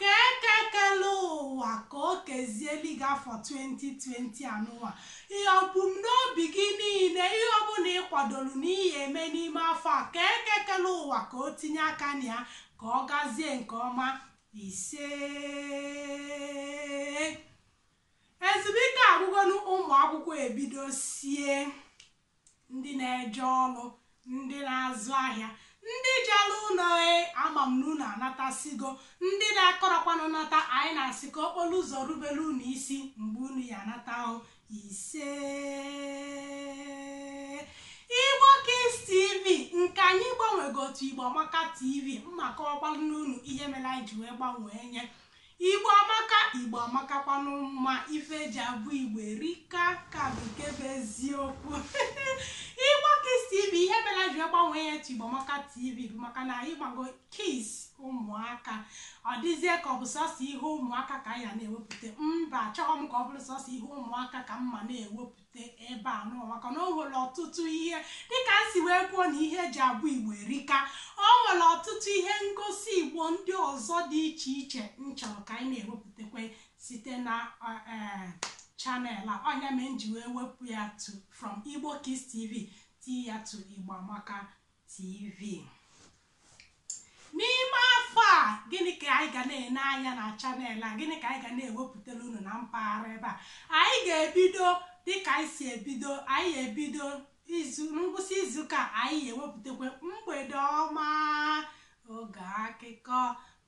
Ka Eke kere ụwa ka o kezieli gị afọ 2020 anụnwa. Ihe ebumnobi gị niile, ihe ọbụla ị kwadoro na ị ya eme n'ime afọ a, ka Eke kere ụwa ka o tinye aka na ya ka ọ gazie nke ọma. Isee! Ezumike agwụgonu, ụmụakwụkwọ ebidosie. ndị na-eje ọrụ, ndị na-azụ ahịa, ndị jere ụlọ e ama m na unu anatasigo, ndị na-akọrọkwanụ nata anyị na-asị ka okporo ụzọ rubere unu isi mgbe unu ya anata o ise Igbo Kids TV nke anyị gbanwego to Igbo Amaka TV m ma akọwalụnụ unu ihe mere anyị ji wee gbanwee nye Igbo amaka, Igbo amakakwanụ mma, ife eji abụ Igbo erika ka bụ nke bụ eziokwu Igbo Kids TV ihe mere m ji gbanwee ya to Igbo amaka TV bụ maka na ị mago kids ụmụaka ọ dịzie ka ọ bụ sọsọ ihe ụmụaka ka anyị na-ewepụta mba achọghị m ka ọ bụrụ sọsọ ihe ụmụaka ka m ma na-ewepụta ebe a nụnwa maka na o nwere ọtụtụ ihe dịka m si wee kwuo na ihe eji abụ igbo erika o nwere ọtụtụ ihe ngosi igbo ndị ọzọ dị iche iche m chọrọ ka anyị na-ewepụtakwa site na eh, eh, channel a ọ nya mere m ji wee wepụ ya to from igbo kids tv tii ya to igbo amaka tv n'ime afọ a gịnị ka anyị ga na-ene anya na channel a gịnị ka anyị ga na-ewepụtara unu na mpaghara ebe a anyị ga-ebido dịka anyị si ebido anyị ebido ngwụsị izuụka anyị ewepụtakwa mgbede ọma oge akụkọ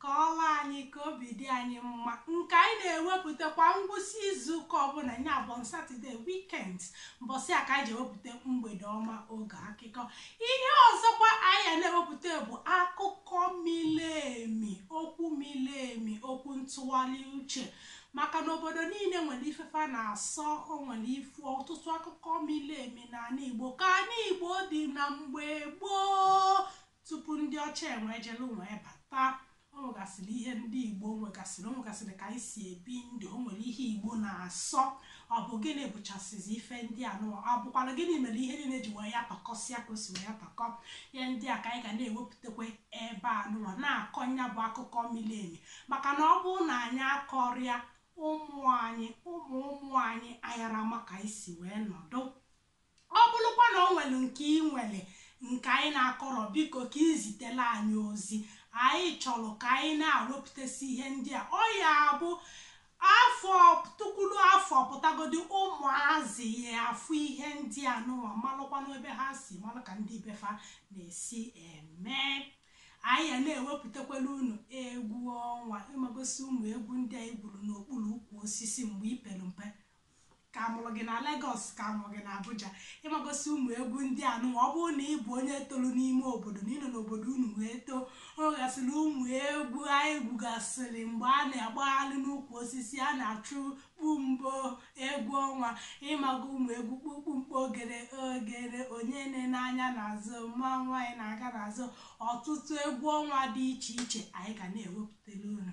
Kọọrọ anyị ka obi dị anyị mma nke anyị na-ewepụta kwa ngwụsị izuụka ọbụla ya bụ on Saturday weekend mbọsị a ka anyị ji ewepụta mgbede ọma oge akụkọ. Ihe ọzọkwa anyị ya na-ewepụta bụ akụkọ miri emi, okwu miri emi, okwu ntụgharị uche maka na obodo niile nwere ife fa na-asọ o nwere ifu ọtụtụ akụkọ miri emi n'ala Igbo ka ala Igbo dị na mgbe gboo Tupu ndị ọcha enwee jelu nwee bata, o nwegasịrị ihe ndị Igbo nwegasịrị, o nwegasịrị ka anyị si ebi ndụ, o nwere ihe Igbo na-asọ. Ọ bụ gịnị bụchasịzi ife ndị a nụwa? Ọ bụkwara gịnị mere ihe niile ji wee ya takọsịa ka o si wee ya takọ? Ihe ndị a ka anyị ga na-ewepụtakwa ebe a nụwa na-akọ nya bụ akụkọ miri emi maka na ọ bụrụ na anyị akọrọ ya ụmụ anyị ụmụ ụmụ anyị ayara ma ka anyị si wee nọdụ Ọ bụrụkwa na o nwere nke i nwere nke anyị na-akọrọ, biko ka i zitere anyị ozi. Anyị chọrọ ka anyị na-ewepụtasị ihe ndị a. Ọ ya abụ afọ tukwuru afọ pụtagodi ụmụazị ya-afụ ihe ndị a nụwa malụkwanụ ebe ha si malụ ka ndị be fa na-esi eme anyị ya na-ewepụtakwala unu egwu ọnwa ị magosi ụmụ egwu ndị anyị gwuru n'okpuru ukwu osisi mgbe i pere mpe ka a mụrụ gị na Lagos ka a mụrụ gị na Abuja ị magosi ụmụ egwu ndị a nụnwa ọ bụrụ na ị bụ onye tolu n'ime obodo na ị nọ n'obodo unu wee too o nwegasịrị ụmụ egwu anyị gwugasịrị mgbe a na-agbagharị n'ukwu osisi a na-achụ kpumbo egwu ọnwa ị mago ụmụ egwu kpukpumkpo ogere ogere onye enena anya n'azụ mmanwụ anyị na-aga n'azụ ọtụtụ egwu ọnwa dị iche iche anyị ga na-ewepụtara unu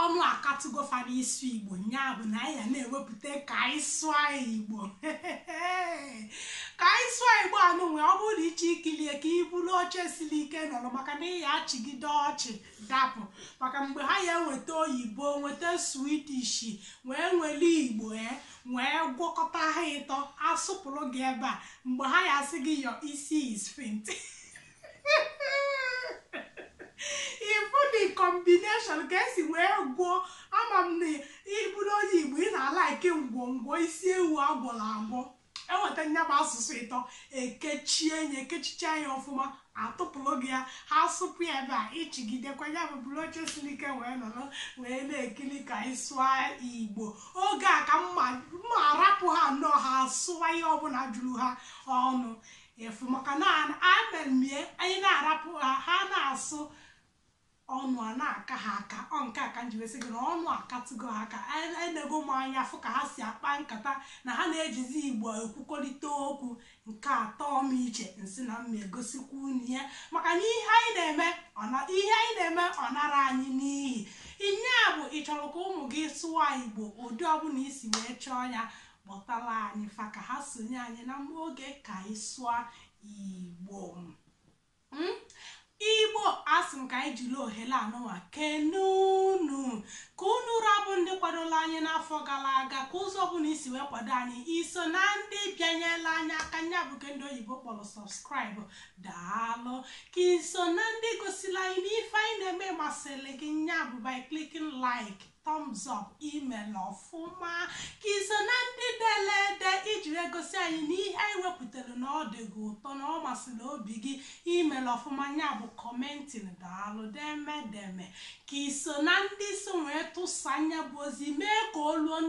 Ọnụ akatụgo fa n'ịsụ Igbo, nya bụ na anyị ya na-ewepụta ka anyị sụọ Igbo. ka anyị sụọ Igbo anụnwa ọ bụrụ na ị chọọ ikili ya ka i buru oche siri ike nọrọ maka na ị ya-achịgide ọchị dapụ maka mgbe ha ya-eweta oyibo weta Swedish wee were Igbo e wee gwọkọta ha ịtọ asụpụrụ gị ebe a mgbe ha ya-asị gị your isi is fint ị fụ the combination ka e si wee gwọọ ama m na ị bụrụ onye igbo ị na-eli ke ngwọngwọ isi ewu a gwọrọ agwọ e weta nya bụ asụsụ ịtọ e kechie ya e kechicha ya ọfụma a tụpụrụ gị ya ha sụpụ ya ebe a ị chịgidekwa ya bụ buru oche siri ike wee nọrọ wee na-ekiri ka anyị sụọ igbo oge a ka m ma-arapụ ha nnọọ ha sụwa ihe ọbụla juru ha ọnụ efu maka na amemie anyị na-arapụ ha ha na-asụ ọnụ a na-aka ha aka ọ nke a ka m ji wee sị gị na ọnụ akatụgo ha aka enego m anya fụ ka ha si akpa nkata na ha na-ejizi igbo ekwukọrịta okwu nke atọ m iche nsị na m ma-egosikwa unu ya maka na ihe anyị na-eme ihe anyị na-eme ọ narọ anyị n'iyi nya bụ ị chọrọ ka ụmụ gị sụwa igbo ụdị ọbụla i si wee chọọ ya Kpọtara anyị fa ka ha sonye anyị na mma oge ka anyị sụọ Igbo. Mm? Igbo asị m ka anyị jiri ohere anụnwa kene unu ka unu ra bụ ndị kwadola anyị n'afọ gara aga ka ụzọ ọbụla i si wee kwado anyị i so na ndị bịanyela anyị aka nya bụ ke ndị oyibo kpọrọ subscribe daalụ ka i so na ndị gosila anyị na ife anyị na-eme masịrị gị nya bụ by clicking like Thumbs up i mela ọfụma ka i so na ndị dele ede iji wee gosi anyị na ihe anyị wepụtara na ọ dị gị ụtọ na ọ masịrị obi gị i mela ọfụma nya bụ kọmentin daalụ deme deme ka i so na ndị so wee tụsa nya bụ ozi mee ka o luo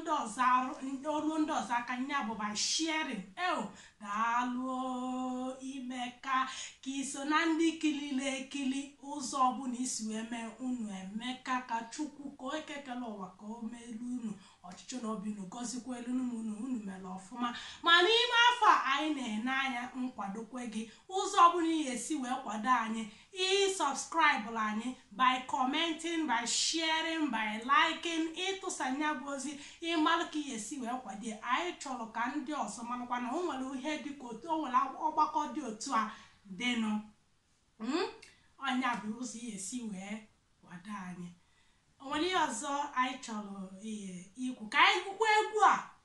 o ruo ndị ọzọ aka nya bụ by sharing e Daalụ o Imeka. Ka i so na ndị kilili ekili ụzọ ọbụla i si wee mee unu emeka ka Chukwu Okike kele ụwa ka o meelu unu ọchịchọ na obi unu gọzikwuelu unu unu unu mela ọfụma ma n'ime afọ a anyị na-ene anya nkwadokwe gị ụzọ ọbụla ị ya-esi wee kwado anyị Ị subscribe-lụ anyị by commenting, by sharing, by liking, ịtụsa nya bụ ozi ịmalụ ka ị ya-esi wee kwado ya. Anyị chọlụ ka ndị ọzọ malụkwa na o nwere ihe dị ka otu o nwere ọgbakọ dị otu a dịnụ. Mm? Ọ nya bụ ụzọ ị ya-esi wee kwado anyị. O nwere ihe ọzọ anyị chọlụ ikwu ka anyị gwukwa egwu a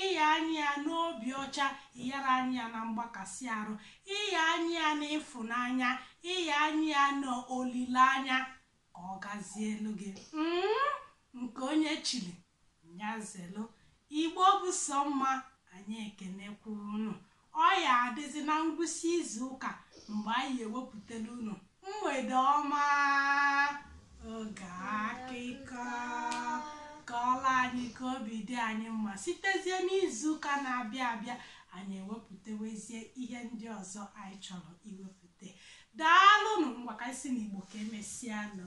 Ịya anyị ya n'obi ọcha, ịyara anyị ya na mgbakasị arụ, ịya anyị ya n'ịfụnanya, ịya anyị ya n'olileanya ka ọ gazielu gị. Mm, nke onye chili nya zelu. Igbo bụ sọ mma, anyị ekenekwa unu. Ọ ya adịzị na ngwụsị izu ụka mgbe anyị ewepụtalụ unu mgbede ọma oge akụkọ kọọla anyị ka obi dị anyị mma sitezie n'izu ụka na-abịa abịa anyị ewepụtawezie ihe ndị ọzọ anyị chọrọ iwepụta daalụnụ ngwa ka anyị sị n'Igbo ka emesịanụ